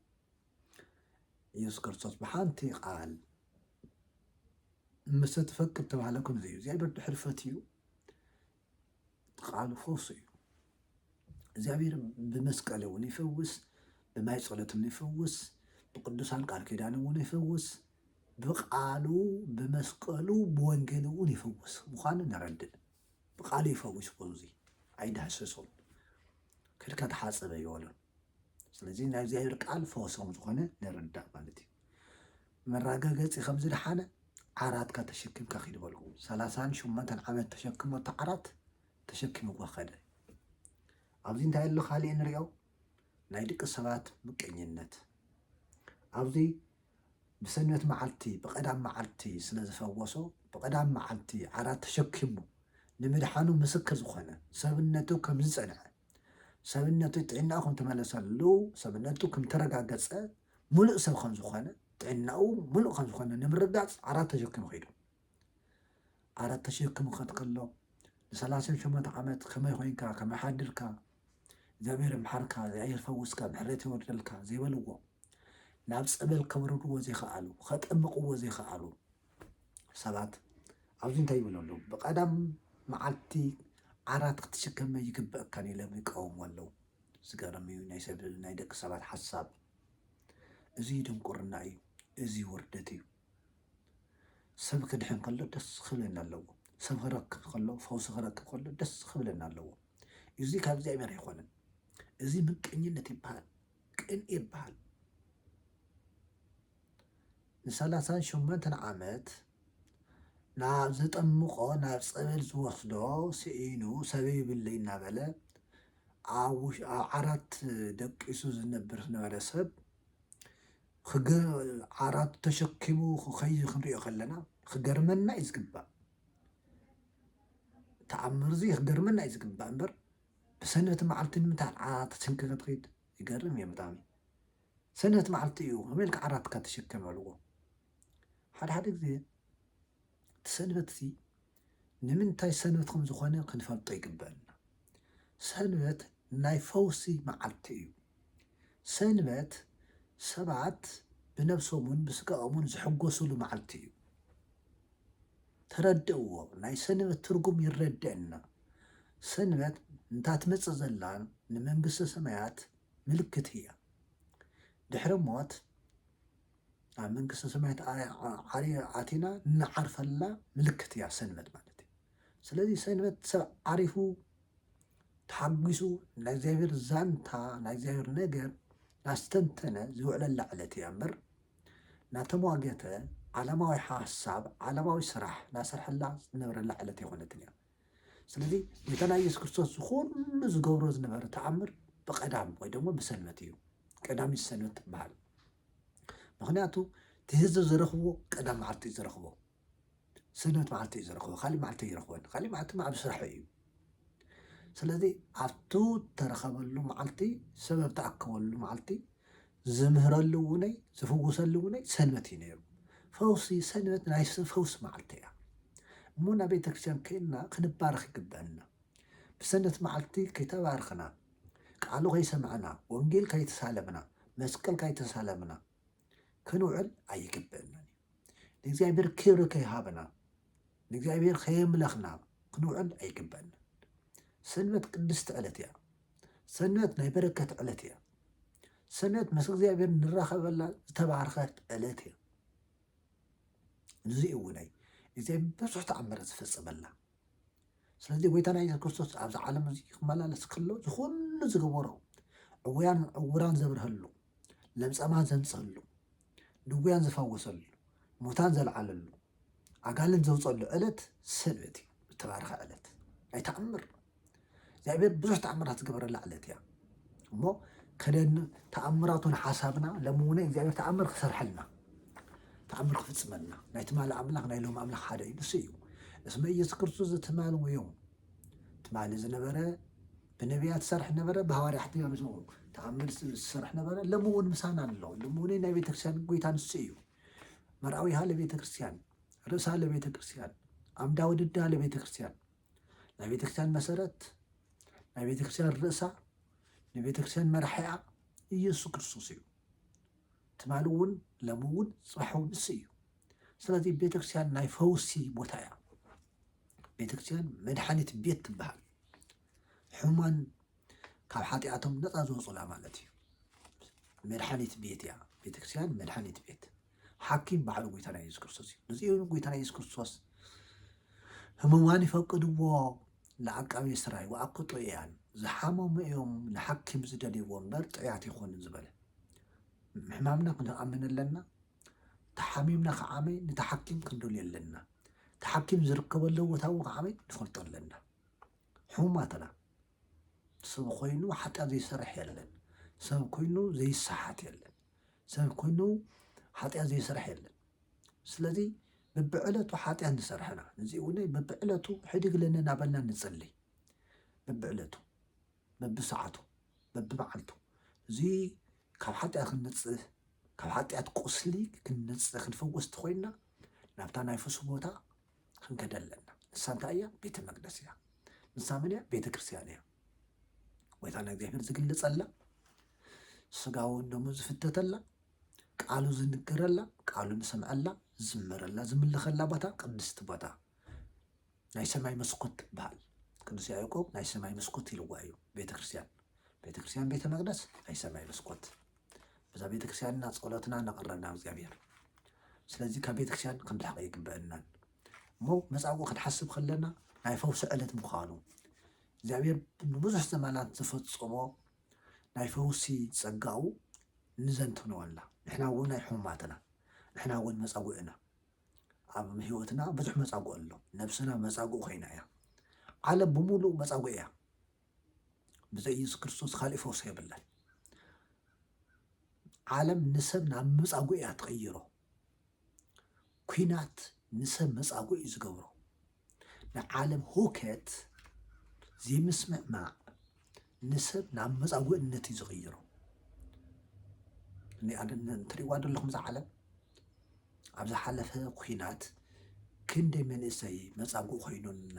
ኢየሱስ ክርስቶስ ብሓንቲ ቃል እመሰ ትፈቅድ ተባህለ ከምዚ እዩ እግዚኣብሔር ድሕሪ ፈትዩ ቃሉ ፈውሱ እዩ እግዚኣብሔር ብመስቀል እውን ይፈውስ ብማይ ጸሎትም ይፈውስ ብቅዱሳን ቃል ኪዳን እውን ይፈውስ ብቃሉ ብመስቀሉ ብወንጌል እውን ይፈውስ ምዃኑ ነረድእ ብቃሉ ይፈዊስ እኮ እዚ ኣይዳህሰሶን ከድካ ተሓጸብ ኣይበሎን ስለዚ ናይ እግዚኣብሔር ቃል ፈወስ ከም ዝኾነ ንርዳእ ማለት እዩ መራጋገጺ ከም ዝደሓነ ዓራትካ ተሸኪምካ ኪድ በልዎ ሰላሳን ሸሞንተን ዓመት ተሸክሞ እቲ ዓራት ተሸኪምዎ ከደ ኣብዚ እንታይ ኣሎ ካሊእ ንሪኦ ናይ ድቂ ሰባት ምቀኝነት ኣብዚ ብሰንበት መዓልቲ ብቀዳም መዓልቲ ስለ ዝፈወሶ ብቀዳም መዓልቲ ዓራት ተሸኪሙ ንምድሓኑ ምስክር ዝኾነ ሰብነቱ ከም ዝጸንዐ ሰብነቱ ጥዕናኡ ከም ተመለሰሉ ሰብነቱ ከም ተረጋገጸ ምሉእ ሰብ ከም ዝኾነ ጥዕናኡ ምሉእ ከም ዝኾነ ንምርጋጽ ዓራት ተሸኪሙ ከይዱ ዓራት ተሸኪሙ ከትከሎ ንሰላሳን ሸሞንተ ዓመት ከመይ ኮይንካ ከመይ ሓድርካ እግዚኣብሔር ይምሓርካ እግዚኣብሔር ይፈውስካ ምሕረት የውርደልካ ዘይበልዎ ናብ ጸበል ከውርድዎ ዘይከኣሉ ከጠምቕዎ ዘይከኣሉ ሰባት ኣብዚ እንታይ ይብሉ ኣለዉ ብቀዳም መዓልቲ ዓራት ክትሽከመ ይግበእካን ኢሎም ይቃወሙ ኣለዉ ዝገርም እዩ ናይ ሰብ ናይ ደቂ ሰባት ሓሳብ እዚ ድንቁርና እዩ እዚ ውርደት እዩ ሰብ ክድሕን ከሎ ደስ ክብለና ኣለዎ። ሰብ ክረክብ ከሎ ፈውሲ ክረክብ ከሎ ደስ ክብለና ኣለዎ። እዚ ካብ እግዚኣብሔር ኣይኮነን። እዚ ምቀኝነት ይበሃል፣ ቅንኢ ይበሃል። ንሰላሳን ሸሞንተን ዓመት ናብ ዘጠምቆ ናብ ፀበል ዝወስዶ ስኢኑ ሰብ ይብለይ እናበለ ኣብ ዓራት ደቂሱ ዝነብር ዝነበረ ሰብ ክገ ዓራቱ ተሸኪሙ ክኸይ ክንሪኦ ከለና ክገርመና እዩ ዝግባእ ተኣምር እዚ ክገርመና እዩ ዝግባእ እምበር ብሰንበት መዓልቲ ንምንታይ ዓራት ተሰንኪ ክትኸይድ ይገርም እዩ ብጣዕሚ ሰንበት መዓልቲ እዩ ከመይ ኢልካ ዓራትካ ተሸከም ኣልዎ ሓድሓደ ግዜ እቲ ሰንበት እዚ ንምንታይ ሰንበት ከም ዝኾነ ክንፈልጦ ይግበእና። ሰንበት ናይ ፈውሲ መዓልቲ እዩ። ሰንበት ሰባት ብነብሶምን ብስጋኦምን ዝሕጎስሉ መዓልቲ እዩ። ተረድእዎ ናይ ሰንበት ትርጉም ይረደእና። ሰንበት እንታ ትመጽእ ዘላ ንመንግስተ ሰማያት ምልክት እያ። ድሕሪ ሞት ኣብ መንግስተ ሰማያት ኣቲና እንዓርፈላ ምልክት እያ ሰንበት ማለት እዩ። ስለዚ ሰንበት ሰብ ዓሪፉ ተሓጒሱ ናይ እግዚኣብሔር ዛንታ ናይ እግዚኣብሔር ነገር ናስተንተነ ዝውዕለላ ዕለት እያ እምበር ናተሟገተ ዓለማዊ ሓሳብ ዓለማዊ ስራሕ ናሰርሐላ ዝነበረላ ዕለት የኾነትን እያ። ስለዚ ጌታና ኢየሱስ ክርስቶስ ዝኹሉ ዝገብሮ ዝነበረ ተኣምር ብቀዳም ወይ ደግሞ ብሰንበት እዩ። ቀዳሚት ሰንበት ትበሃል። ምክንያቱ እቲ ህዝቢ ዝረኽቦ ቀዳም መዓልቲ እዩ ዝረኽቦ ሰንበት መዓልቲ እዩ ዝረኽቦ ካሊእ መዓልቲ ይረኽቦን ካሊእ መዓልቲ ኣብ ስራሕ እዩ ስለዚ ኣብቲ ተረኸበሉ መዓልቲ ሰበብ ተኣከበሉ መዓልቲ ዝምህረሉ እውነይ ዝፍውሰሉ እውነይ ሰንበት እዩ ነይሩ ፈውሲ ሰንበት ናይ ፈውሲ መዓልቲ እያ እሞ ናብ ቤተክርስትያን ከይድና ክንባረኽ ይግበአና ብሰንበት መዓልቲ ከይተባረኽና ቃሉ ከይሰማዕና ወንጌል ካይተሳለምና መስቀል ካይተሳለምና ክንውዕል ኣይግበእናን እዩ ንእግዚኣብሔር ክብሪ ከይሃብና ንእግዚኣብሔር ከየምለኽና ክንውዕል ኣይግበእናን ሰንበት ቅድስቲ ዕለት እያ ሰንበት ናይ በረከት ዕለት እያ ሰንበት ምስ እግዚኣብሔር ንራኸበላ ዝተባረኸት ዕለት እያ ንዚ እውን ናይ እግዚኣብሔር ብዙሕ ተኣምራት ዝፈፀመላ ስለዚ ጎይታና የሱስ ክርስቶስ ኣብዚ ዓለም እዚ ክመላለስ ከሎ ዝኩሉ ዝገበሮ ዕውያን ዕውራን ዘብርሀሉ ለምጸማን ዘንጽህሉ ድውያን ዝፈወሰሉ ሙታን ዘልዓለሉ ኣጋልን ዘውፀሉ ዕለት ሰንበት እዩ ዝተባረኸ ዕለት ናይ ተኣምር እግዚኣብሔር ብዙሕ ተኣምራት ዝገበረላ ዕለት እያ እሞ ከደን ተኣምራቱን ሓሳብና ሎሚ እውን እግዚኣብሔር ተኣምር ክሰርሐልና ተኣምር ክፍፅመልና ናይ ትማሊ ኣምላኽ ናይ ሎም ኣምላኽ ሓደ እዩ ንሱ እዩ እስመ ኢየሱስ ክርስቶስ ዘትማል ወዮ ትማሊ ዝነበረ ብነቢያት ዝሰርሕ ነበረ ብሃዋርያት ተኣምር ዝሰርሕ ነበረ ሎሚ እውን ምሳና ኣሎ ሎሚ እውን ናይ ቤተክርስትያን ጎይታ ንሱ እዩ መርኣዊሃ ለቤተክርስትያን ርእሳ ለቤተክርስትያን ኣምዳ ውድዳ ለቤተክርስትያን ናይ ቤተክርስቲያን መሰረት ናይ ቤተክርስቲያን ርእሳ ናይ ቤተክርስቲያን መራሒኣ ኢየሱስ ክርስቶስ እዩ ትማሊ እውን ለም እውን ፅባሕ እውን እሱ እዩ ስለዚ ቤተክርስቲያን ናይ ፈውሲ ቦታ እያ ቤተክርስቲያን መድሓኒት ቤት ትበሃል ሕሙማን ካብ ሓጢኣቶም ነፃ ዝወፁላ ማለት እዩ መድሓኒት ቤት እያ ቤተክርስቲያን መድሓኒት ቤት ሓኪም ባዕሉ ጎይታና የሱስ ክርስቶስ እዩ። ነዚ እውን ጎይታና የሱስ ክርስቶስ ህሙማን ይፈቅድዎ ንዓቃቤ ስራይ ወኣኮ ጥዑያን ዝሓመሙ እዮም ንሓኪም ዝደልይዎ እምበር ጥዕያት ኣይኮኑን ዝበለ ሕማምና ክንኣምን ኣለና ተሓሚምና ከዓመይ ነቲ ሓኪም ክንደልዮ ኣለና እቲ ሓኪም ዝርከበሉ ቦታ እውን ከዓመይ ንፈልጦ ኣለና ሕሙማትና ሰብ ኮይኑ ሓጢኣት ዘይሰርሕ የለን፣ ሰብ ኮይኑ ዘይሰሓት የለን፣ ሰብ ኮይኑ ሓጢኣት ዘይሰርሕ የለን። ስለዚ በብዕለቱ ሓጢኣት ንሰርሐና ነዚ እውን በብዕለቱ ሕድግለኒ እናበልና ንጽልይ በብዕለቱ በብሰዓቱ በብመዓልቱ እዚ ካብ ሓጢኣት ክንነጽህ ካብ ሓጢኣት ቁስሊ ክንነጽህ ክንፈወስቲ ኮይና ናብታ ናይ ፍሱ ቦታ ክንከደ ኣለና። ንሳ እንታይ እያ? ቤተ መቅደስ እያ። ንሳ መን እያ? ቤተ ክርስቲያን እያ። ጎይታ ንእግዚኣብሔር ዝግለጸላ፣ ስጋውን ደሙ ዝፍተተላ፣ ቃሉ ዝንገረላ፣ ቃሉ ንሰምዐላ፣ ዝመረላ፣ ዝምልኸላ ቦታ ቅድስቲ ቦታ ናይ ሰማይ መስኮት ትበሃል። ቅዱስ ያዕቆብ ናይ ሰማይ መስኮት ኢልዋ እዩ ቤተ ክርስቲያን። ቤተ ክርስቲያን ቤተ መቅደስ ናይ ሰማይ መስኮት በዛ ቤተክርስቲያን እና ጸሎትና ነቕርብ ናብ እግዚኣብሔር ስለዚ ካብ ቤተክርስቲያን ክንርሕቕ ኣይግበአናን እሞ መጻጉዕ ክንሓስብ ከለና ናይ ፈውሲ ዕለት ምዃኑ እግዚኣብሔር ንብዙሕ ዘመናት ዝፈጸሞ ናይ ፈውሲ ጸጋኡ ንዘንትኖ ኣላ ንሕና እውን ናይ ሕሙማትና ንሕና እውን መጻጉዕ ኢና ኣብ ህይወትና ብዙሕ መጻጉዕ ኣሎ ነብስና መጻጉዕ ኮይና እያ ዓለም ብምሉእ መጻጉዕ እያ ብዘይ ኢየሱስ ክርስቶስ ካልእ ፈውሲ የብለን። ዓለም ንሰብ ናብ መጻጉዕ እያ ትቕይሮ። ኩናት ንሰብ መጻጉዕ እዩ ዝገብሮ። ንዓለም ሁከት ዘይምስምዕማዕ ንሰብ ናብ መጻጉዕነት እዩ ዝቕይሮ። እንትሪእዋ ዘለኹም እዛ ዓለም ኣብ ዝሓለፈ ኩናት ክንደይ መንእሰይ መጻጉዕ ኮይኑና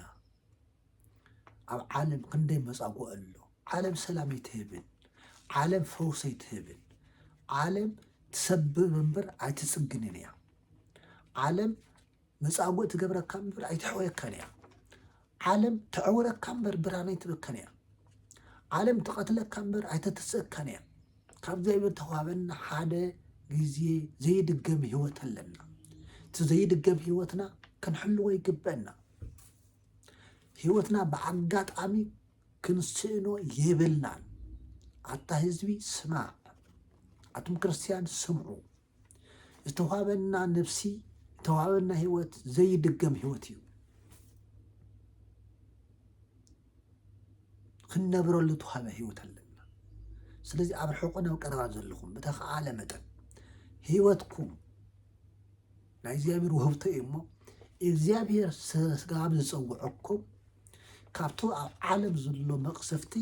ኣብ ዓለም ክንደይ መጻጉ ኣሎ ዓለም ሰላም ኣይትህብን ዓለም ፈውስ ኣይትህብን ዓለም ትሰብር እምበር ኣይትጽግንን እያ ዓለም መጻጉእ ትገብረካ እምበር ኣይትሕወየካን እያ ዓለም ተዕውረካ እምበር ብርሃን ኣይትበካን እያ ዓለም ትቐትለካ እምበር ኣይተትስእካን እያ ካብ እግዚኣብሔር ተዋህበና ሓደ ግዜ ዘይድገም ህይወት ኣለና እቲ ዘይድገም ህይወትና ክንሕልዎ ይግበአና ሂወትና ብኣጋጣሚ ክንስእኖ የብልናን ኣታ ህዝቢ ስማዕ ኣቱም ክርስትያን ስምዑ ዝተዋህበና ነፍሲ ዝተዋህበና ሂወት ዘይድገም ሂወት እዩ ክንነብረሉ ተዋህበ ሂወት ኣለና ስለዚ ኣብ ርሑቕን ኣብ ቀረባን ዘለኹም ብተኸኣለ መጠን ሂወትኩም ናይ እግዚኣብሔር ውህብቶ እዩ እሞ እግዚኣብሔር ስጋብ ዝፀውዐኩም ካብቲ ኣብ ዓለም ዘሎ መቕሰፍቲ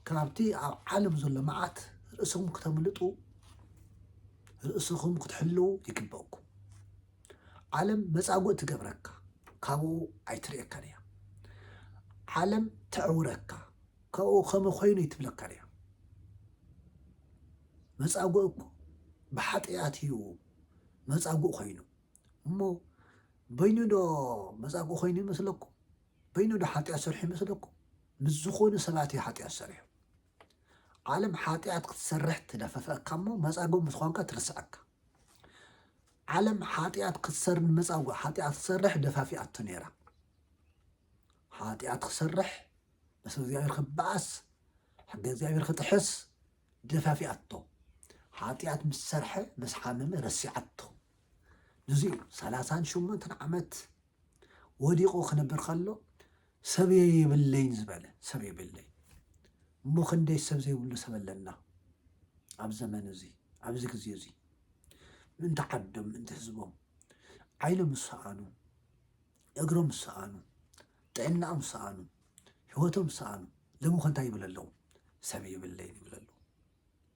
ካብቲ ኣብ ዓለም ዘሎ መዓት ርእስኹም ክተምልጡ ርእስኹም ክትሕልው ይግበእኩም ዓለም መፃጉእ ትገብረካ ካብኡ ኣይትርእየካን እያ ዓለም ተዕውረካ ካብኡ ከመ ኮይኑ ይትብለካን እያ መፃጉእ እኮ ብሓጢኣት እዩ መጻጉእ ኮይኑ እሞ በይኑ ዶ መጻጉእ ኮይኑ ይመስለኩም? በይኑ ዶ ሓጢኣት ሰርሑ ይመስለኩም? ምስ ዝኾኑ ሰባት እዩ ሓጢኣት ሰሪሑ። ዓለም ሓጢኣት ክትሰርሕ ትደፈፈካ እሞ መጻጉእ ምስ ኾንካ ትርስዐካ። ዓለም ሓጢኣት ክትሰር ንመጻጉእ ሓጢኣት ክትሰርሕ ደፋፊኣቶ ነይራ። ሓጢኣት ክሰርሕ ምስ እግዚኣብሔር ክበኣስ ሕገ እግዚኣብሔር ክጥሕስ ደፋፊኣቶ ሓጥያት ምስ ሰርሐ ምስ ሓመመ ረሲዓቶ ንዚ እዩ ሰላሳን ሸሞንተን ዓመት ወዲቑ ክነብር ከሎ ሰብ የብለይን ዝበለ ሰብ የብለይ እሞ ክንደይ ሰብ ዘይብሉ ሰብ ኣለና ኣብ ዘመን እዚ ኣብዚ ግዜ እዚ ምእንቲ ዓዶም ምእንቲ ህዝቦም ዓይኖም ዝሰኣኑ እግሮም ዝሰኣኑ ጥዕናኦም ዝሰኣኑ ሂወቶም ዝሰኣኑ ሎሚ ከ እንታይ ይብል ኣለዉ ሰብ የብለይን ይብል ኣለዉ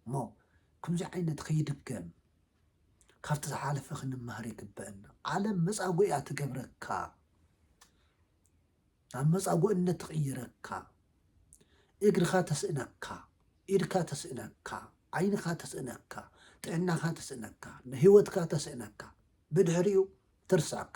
እሞ ከምዚ ዓይነት ከይድገም ካብቲ ዝሓለፈ ክንመሃር ይግበአና ዓለም መጻጉ እያ ትገብረካ ናብ መጻጉእነት ትቕይረካ እግርኻ ተስእነካ ኢድካ ተስእነካ ዓይንኻ ተስእነካ ጥዕናኻ ተስእነካ ንህይወትካ ተስእነካ ብድሕሪኡ ትርስዓካ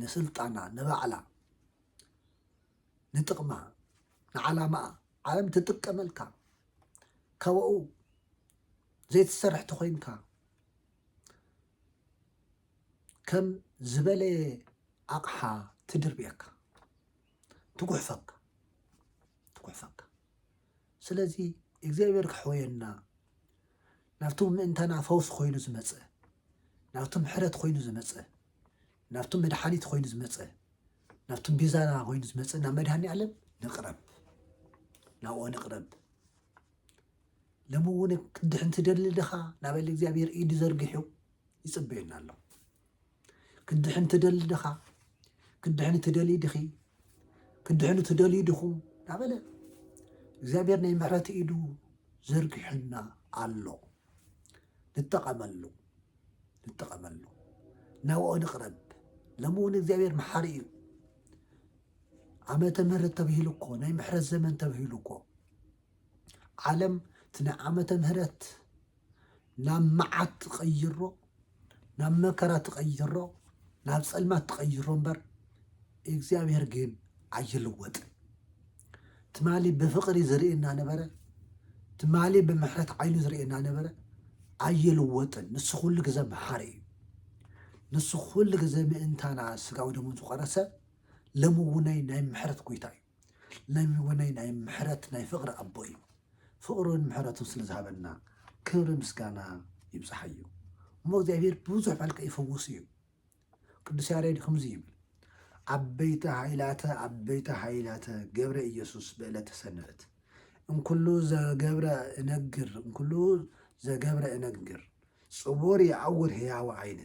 ንስልጣና ንባዕላ ንጥቕማ ንዓላማኣ ዓለም ትጥቀመልካ ካባኡ ዘይትሰርሕ ተኾይንካ ከም ዝበለየ ኣቕሓ ትድርብየካ ትጉሕፈካ ትጉሕፈካ ስለዚ እግዚኣብሔር ከሕወየና ናብቲ ምእንታና ፈውሲ ኮይኑ ዝመጸ ናብቲ ምሕረት ኮይኑ ዝመጸ ናብቲ መድሓኒት ኮይኑ ዝመጸ ናብቲ ቤዛና ኮይኑ ዝመጸ ናብ መድሃኒ ዓለም ንቕረብ ናብኦ ንቕረብ ሎሚ እውን ክትድሕን ትደሊ ድኻ ናበል እግዚኣብሔር ኢዱ ዘርጊሑ ይጽበየና ኣሎ ክትድሕን ትደሊ ድኻ ክትድሕኒ ትደልይ ድኺ ክትድሕኑ ትደልዩ ድኹም እናበለ እግዚኣብሔር ናይ ምሕረት ኢዱ ዘርጊሑልና ኣሎ ንጠቐመሉ ንጠቐመሉ ናብኦ ንቕረብ ሎሚ እውን እግዚኣብሔር መሓሪ እዩ ዓመተ ምህረት ተብሂሉ እኮ ናይ ምሕረት ዘመን ተብሂሉ እኮ ዓለም እቲ ናይ ዓመተ ምህረት ናብ መዓት ትቐይሮ ናብ መከራ ትቐይሮ ናብ ጸልማት ትቐይሮ እምበር እግዚኣብሔር ግን ኣይልወጥን። ትማሊ ብፍቅሪ ዝርእየና ነበረ ትማሊ ብምሕረት ዓይኑ ዝርእየና ነበረ ኣይልወጥን ንሱ ኩሉ ግዘ መሓሪ እዩ ንሱ ኩሉ ግዘ ምእንታና ስጋዊ ደሙ ዝቆረሰ ለምውነይ ናይ ምሕረት ጎይታ እዩ ለሚ ወነይ ናይ ምሕረት ናይ ፍቅሪ ኣቦ እዩ ፍቅሩን ምሕረቱን ስለ ዝሃበና ክብሪ ምስጋና ይብጽሓዮ እሞ እግዚኣብሔር ብዙሕ መልክዕ ይፈውስ እዩ ቅዱስ ያሬድ ከምዚ ይብል ዓበይቲ ሃይላተ ዓበይቲ ሃይላተ ገብረ ኢየሱስ ብዕለተ ሰንበት እንኩሉ ዘገብረ እነግር እንኩሉ ዘገብረ እነግር ጽቡር የዐውር ህያወ ዓይነ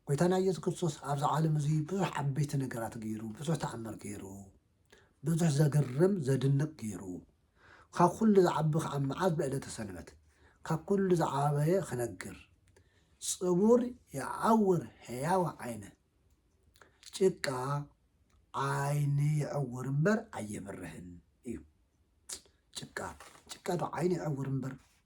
ጎይታና ኢየሱስ ክርስቶስ ኣብዚ ዓለም እዚ ብዙሕ ዓበይቲ ነገራት ገይሩ፣ ብዙሕ ተኣምር ገይሩ፣ ብዙሕ ዘገርም ዘድንቅ ገይሩ፣ ካብ ኩሉ ዝዓቢ ከዓ መዓዝ ብዕለተ ሰንበት ካብ ኩሉ ዝዓበየ ክነግር ጽቡር ይዓውር ሕያወ ዓይነ ጭቃ ዓይኒ ይዕውር እምበር ኣየብርህን እዩ። ጭቃ ጭቃ ዶ ዓይኒ ይዕውር እምበር